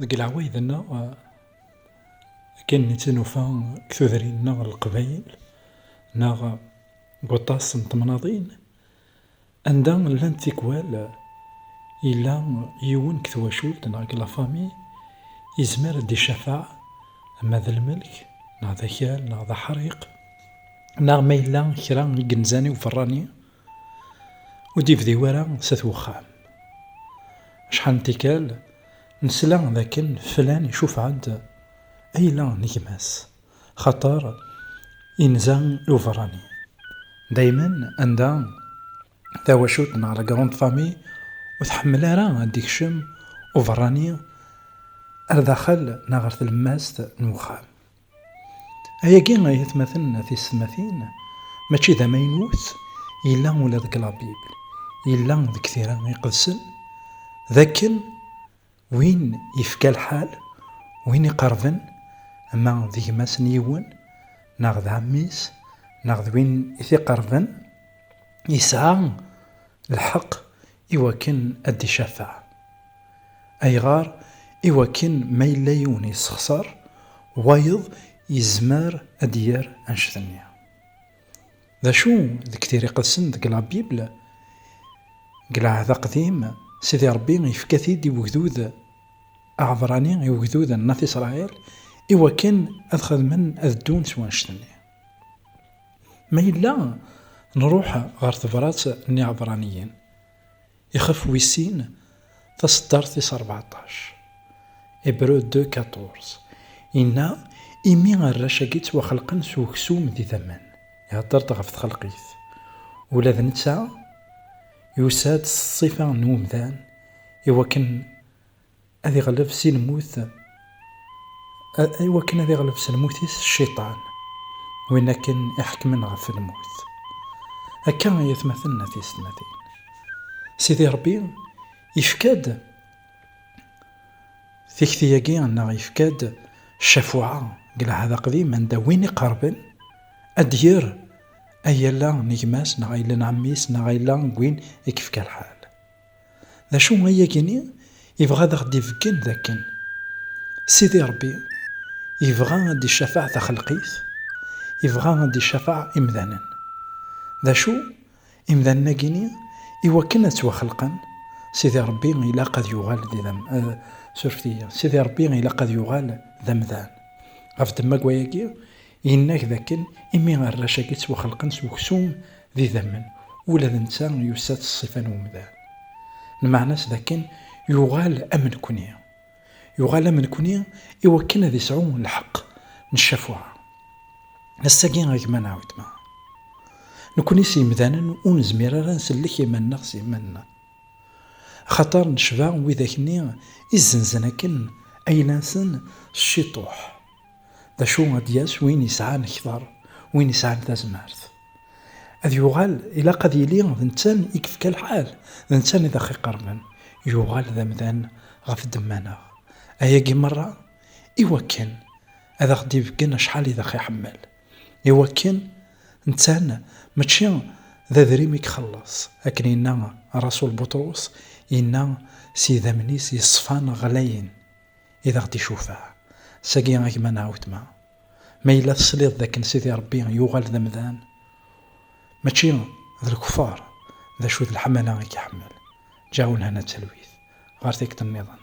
Deg leɛwayed-nneɣ, akken netta nufa deg tudrin-nneɣ n leqbayel neɣ deg waṭas n temnaḍin anda llant tikwal, yella yiwen deg twacult neɣ deg la famille yezmer ad d-icafaɛ ma d lmelk neɣ d akal neɣ d aḥriq neɣ ma yella kra i yenzan i uberrani. Ur d-yebdi wara s at wexxam. Acḥal n tikkal nesla d akken flan icufeɛ-d ayla n gma-s xaṭer yenza i uberrani. Daymen anda tawacult neɣ la grande famille ur tḥemmel ara ad d-ikcem uberrani ar daxel neɣ ɣer tlemmast n wexxam. Ayagi, ay atmaten tisetmatin, mačči d amaynut, yella ula deg la Bible, yella deg tira iqedsen, d akken win yefka lḥal, win iqerben, ma d gma-s n yiwen, neɣ d ɛemmi-s, neɣ d win i t-iqerben, yesɛa lḥeqq I wakken ad d-icafeɛ. Ayɣer? I wakken ma yella yiwen yessexṣer, wayeḍ yezmer ad d-yerr annect-nni. D acu deg Tira Iqedsen deg La Bible? Deg Lɛehd Aqdim, Sidi Ṛebbi yefka-t-id i wegdud aɛebrani, i wegdud n At Isṛail, i wakken ad xedmen, ad ddun s wannect-nni. Ma yella nruḥ ɣer tebrat n Iɛebraniyen, ixef wis sin, taseddart tis rbeɛṭac, Hébreux deux quatorze, inna, Imi arrac-agi ttwaxelqen s uksum d idammen, ihedder-d ɣef txelqit, ula d netta yusa-d s ṣṣifa n umdan, iwakken ad iɣleb si lmut, i wakken ad iɣleb s lmut-is Cciṭan, win akken iḥekmen ɣef lmut. Akka ay atmaten n at yessetmatin. Sidi Ṛebbi yefka-d tikti-agi neɣ yefka-d ccafuɛa deg Lɛahd Aqdim anda win iqerben ad d-yerr ayala n gma-s neɣ ayla n ɛemmi-s neɣ ayla n win i yefka lḥal. D acu ay agini yebɣa ad aɣ-d-ibeggen d akken Sidi Rebbi yebɣa ad d-icafeɛ taxelqit, yebɣa ad d-icafeɛ imdanen. D acu, imdanen-agini i wakken ad ttwaxelqen, Sidi Rebbi ilaq ad yuɣal d, surfet-iyi, Sidi Rebbi ilaq ad yuɣal d amdan. Ɣef ddemma n wayagi, Yenna-k dakken imi arrac-agi ttwaxelqen s uksum d idammen, ula d netta yussa-t ṣṣifa n umdan. Lmeɛna-s dakken yuɣal am nekkni. Yuɣal am nekkni i wakken ad isɛu lḥeqq n ccafuɛa. Ass-agi a gma neɣ weltma, nekkni s yemdanen ur nezmir ara ad nsellek iman-nneɣ s yiman-nneɣ. Axaṭer necba widak-nni i zzenzen akken ayla-nsen s ciṭuḥ, D acu ad d-yas win yesɛan kter, win yesɛan tazmert? Ad yuɣal, ilaq ad yili d nettan i yefka lḥal, d nettan i d aɣ-iqerben, yuɣal d amdan ɣef ddemma-neɣ. Ayagi merra i wakken ad aɣ-d-ibeggen acḥal i d aɣ-iḥemmel, i wakken nettan mačči d adrim i ixelleṣ, akken yenna Raṣul Buṭrus, yenna s yidammen-is yeṣfan ɣlayen. i d aɣ-d-icufaɛ. Sagi a gma neɣ wetma, ma yella tesliḍ d akken Sidi Rebbi yuɣal d amdan, mačči d lkufar, d acu d leḥmala i k-iḥemmel, ǧǧa ulhan a talwit, ɣer tikkḍ nniḍen.